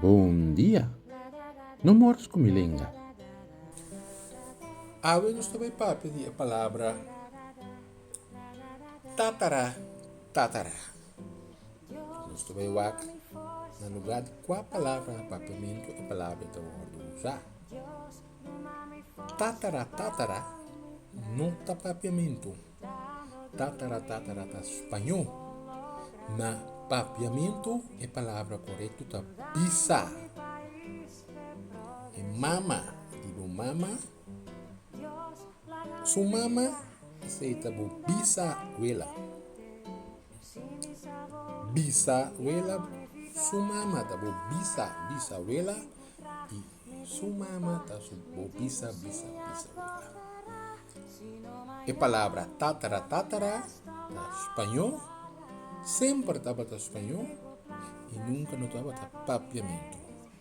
Bon dia! No mors ku mi lenga. Awe nos ta bai papia di e palabra tatara tatara. Nos ta bai wak na lugar di kua palabra na Papiamentu e palabra ta wòrdu usá. Tataratatara no ta Papiamentu. Tataratatara ta spañó. Na Papiamentu e palabra korekto ta bisa. E mama di bo mama, su mama, esei ta bo bisabuela. Bisabuela, su mama ta bo bisa bisabuela y su mama ta su bo bisa bisa bisabuela. E palabra tatara tatara ta spañó, semper tabata spañó y nunca no tabata papiamentu.